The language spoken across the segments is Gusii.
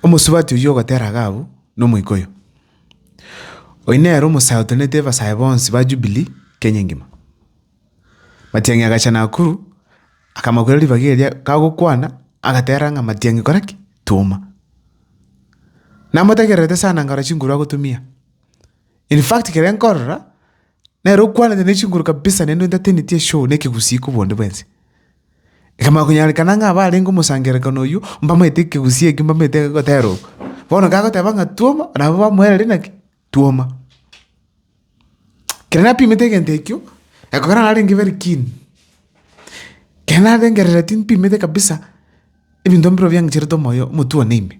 Omosubati oyio ogotera Agabu na omoika oyo, oyio nere omosae otenenete abasae bonsi ba Jubilee Kenya engima. Matiang'i agacha Nakuru, akamakwera ribaga eria kagokwana, agatera ng'a Matiang'i kora ki? Twoma. Namotegererete sana nkarora chinguru agotumia. In fact, kere nkorora, Nere okwanete ne chinguru kabisa naende ontateneti eshoo n'ekegusii kobua onde bwense. Ekamanya konyarekana ng'a abarenge omosangererekano oyio mbamaete ekegusii ekio mbamaete egotera oo. Bono gagoteba ng'a twoma nabo bamoereria naki? Twoma. Kero napimete egento ekio, ekero narenge very keen, kero narengerera timpimete kabisa ebinto mbirobio biang'icherete omoyo omotwe one ime.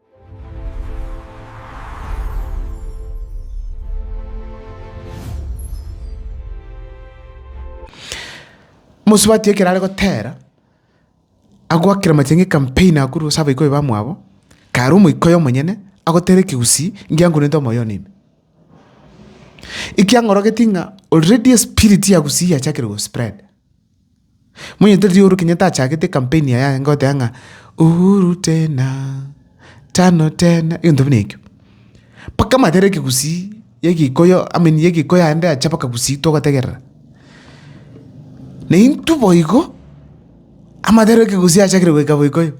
Mosubati ekero are gotera, agoakera amachanga ekampeni agwo korwa ase abaikoi bamwabo, kare omoika oye omonyene agotera ekegusii ngiankorente omoyo one ime. Ekiang'orogetie ng'a already espiriti ya gusii yachakire gospread. Monyete riria Uhuru Kenyatta achagete campaign yaye anga goteba ng'a Uhuru tena, tano tena, egento buna ekio. Mpaka amaete are ekegusii, ya egikoyo, I mean ya egikoyo aende ache mpaka gusii togotegerera. Na intwe boigo, amaete are ekegusii achakire goika boikoyo.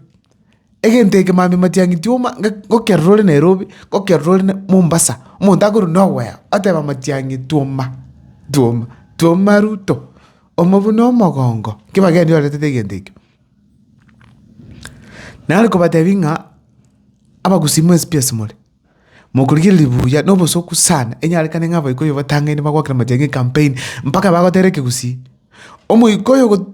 Egento eke mambia matiang'iti omo ngokerora ore Nairobi, ngokerora ore Mombasa, omonto akorora noweo, oteba matiang'iti oma, twoma, twoma Ruto, omo buna omogongo, ekio bagendereti baretete egento ekio. Nare kobatebi ng'a abagusii mwe esipia ase more, mokorigereria buya na obosoku sana, enyarekane ng'a abaikoyo batangaine bagwakera matiang'i ecampaign, mpaka bagotera ekegusii, omoikoyo.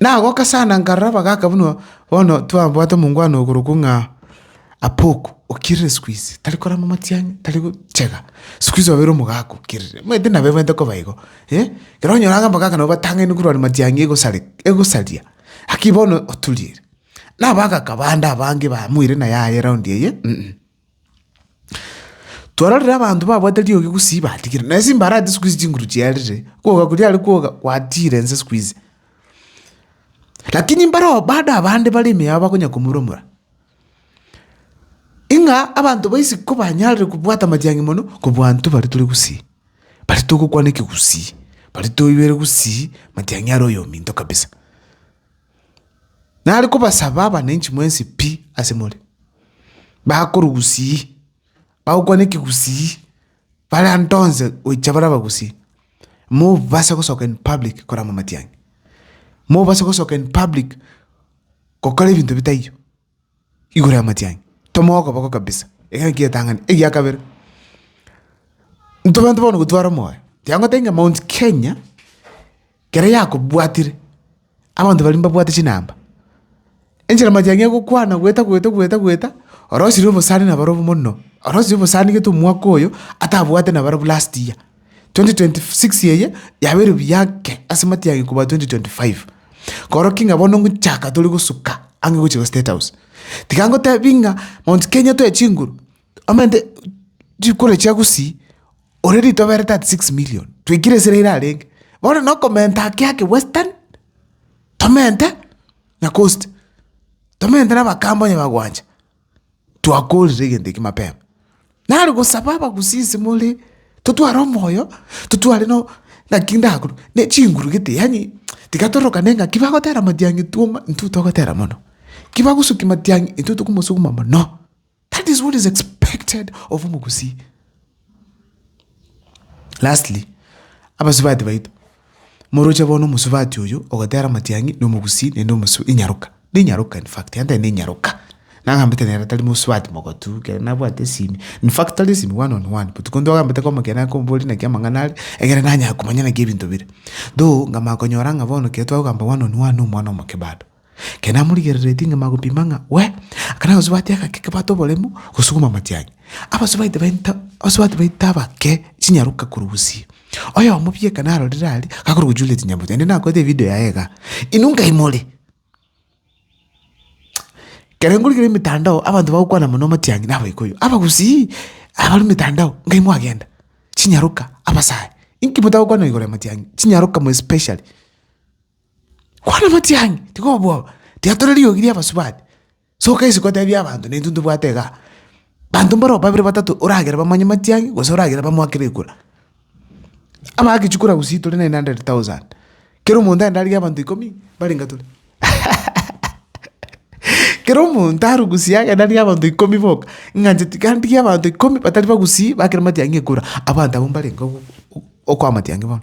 Nagoka sana nkarora bagaka buna bono twabwate omongwana okorokwa ng'a Apoko, okirire siku hizi, tari korama amatiang'i, tari gochega, siku hizi obeire omogaka okirire, omanyete nabebwenerete koba igo, eh. Ekero onyora iga abagaka nabo batang'aine korwa amatiang'i egosare egosaria, naki bono oturiire. Na abagaka bande abange bamoire na yaye eraundi eye. Twarorire abanto babwate riogi gusii batigire, na ase imbarati siku hizi chinguru chiarire, kwoga koria are kwoga gwatiire ense siku hizi. Lakini mbarobwo bado abande bare ime yao bakonya komuromora. Ing'a abanto ba isiko banyarire kobwata amatiang'i mono kobua intwe baria tore gusii, baria togokwana ekegusii, baria toigwere gusii matiang'i are oyominto kabisa. Nare kobasaba abananchi mwensi pi ase more, bakore obusii, bagokwana ekegusii, bare ande onsi gochia bare abagusii, mobase gosoka in public koramamatia ng'a, mobase gosoka in public gokora ebinto bitaiyo. igoro y'amatiang'i, tomoe okoboko kabisa, ekero ekio getang'ani. Egia kabere, intwe abanto bono gotwara omoyo, tiga ngotebie ng'a mount Kenya, kere yakobwatire, abanto baria mbabwate chinamba, enchera amatiang'i agokwana goeta goeta goeta goeta, orosirie obosani nabare obo mono, orosirie obosani gete omwaka oyo, atabwate nabarabwo last year. 2026 eye yabeire buya ake ase matiang'i kobua 2025. Korokio ng'a bono ngochaka tore gosuka ang'e gochia go state house. Tiga ngotebi ng'a mount kenya toe chinguru omente chikura chia gusii ore ritobere 36 million twaikire esira ira arenge. Bono na okomenta ake ake western tomente na coast tomente na abakamba onye bagwancha. Twakorire egento eke mapema. Nare gosaba abagusi inse more, totware omoyo, totware no naki ndakuru, ne chinguru gete yaani tiga torokane ng'aki bagotera matiang'i twoma intwe togotera mono, ki bagosukia matiang'i intwe tokomosukuma mono. That is what is expected of omogusii. Lastly, abasubati baito, moroche bono omosubati oyo ogotera amatiang'i na omogusii naende omosu inyaroka, ninyaroka in fact ante ninyaroka, nagambete nere tari mosubati mogotu ekero nabwate esimi, in fact tari esimi one on one but konto agambete komokera akomboria naki amang'ana are, ekere nanyare komanya naki ebinto bire. Though nkamanya konyora ng'a bono ekero twagogamba one on one nomwana omoke bado. Ekero namorigereretie ng'a magopima ng'a we, akana gosubati agake kebwate oboremu gosuguma amatiang'i. Abasubati baito, abasubati baito abake chinyaroka korwa gusii. Oyomo pi ekero narorire aria, gakorwa gochuria chinyamboto, naende nakorete evideo yaye igaa. Inwe nkai more? Ekero nkorigera emetandao, abanto bagokwana mono amatiang'i na abaikoyo. Abagusii, abare metandao, nkai mwagenda? Chinyaroka, abasae, inki motagokwana igoro ya amatiang'i? Chinyaroka more especially. Kwana amache ang'e, tiga obwoba, tiga tore riogi ri'abasubati. Soka isiko otebie abanto naintwe ntobwate igaa. Abanto mbaro babere batato oragere bamanye amache ang'e gose oragere bamoakere ekura. Abaagechia kura gusii tore nine hundred thousand, kera omonto aende arigie abanto ikomi mbare inga tore kera omonto arugusie agende arigie abanto ikomi boka, ng'a inche tiga ndigie abanto ikomi batari bagusii bakere matiang'i ekura, abanto abwo mbare inga ogo okoa matiang'i bono.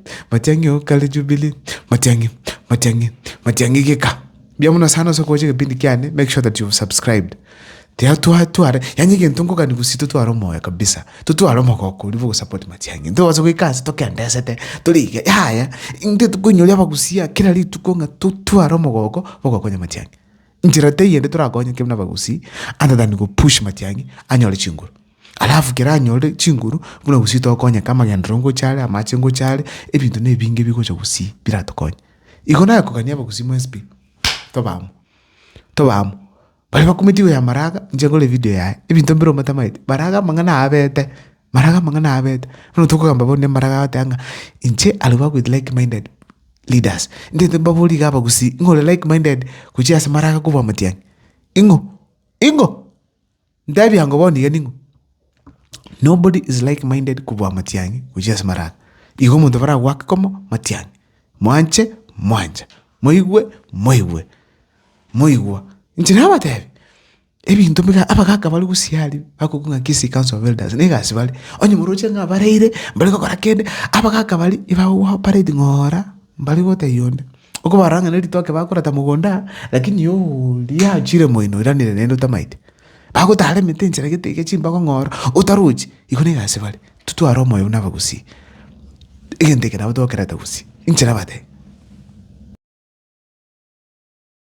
Matiang'i oo kare Jubilee, Matiang'i, Matiang'i, Matiang'i geka. Mbuya mono sana ase okogocha egepindi kiane, make sure that you've subscribed. Tiga twa tware, yaani egento nkogani gose totware omoyo kabisa, totware omogoko oria bwa ogosupport Matiang'i. Ntobasa goika ase tokendesete, tore iga, yaya, intwe tokoinyoria abagusia kera rituko ng'a totware omogoko bwa ogokonya Matiang'i. Nchera teiyo ende torakonyeke buna abagusii other than gopush Matiang'i anyore chinguru. Alafu kere anyore chinguru buna gusii togokonyeka amagenderero ngocha are amache ngocha are ebinto na ebinge bigocha gusii biratokonye. Igo naye kogania abagusii mwesp tobe amo tobe amo baria bakumeti igoro ya maraga inche nkore evideo yaye ebinto mbire omotamete maraga amang'ana aabete maraga amang'ana aabete bono tokogamba bono ne maraga agotea ng'a inche I work with like minded leaders ndete mbaborie iga abagusii ng'o ore like minded gochia ase maraga kobua amatiang'i ing'o ing'o. Ntebie ango bono iga ning'o? Nobody is like minded kobua amatiang'i gochia ase marara. Igo omonto baragoake komo matiang'i. Mwanche mwancha, moigwe moigwe, moigwa. Inche nabatebi, ebinto biga abagaka baria gusii aria bakokigwa ng'a Kisii Council of Elders na egasi bare. Onye moroche ng'a bareire, mbare gokora kende, abagaka baria ebagogoa operate ng'ora, mbari gotebia onde. Okobara ng'a neritoke bakoreta mogondo aa, lakini oria achire moino oiranire naende otamaete. Bagotara emete enchera gete iga chimbago ng'ora otarochi, igo niga ase bare. Titware omoyo buna abagusii, egento eke nabo tokerete gusii, inche nabate.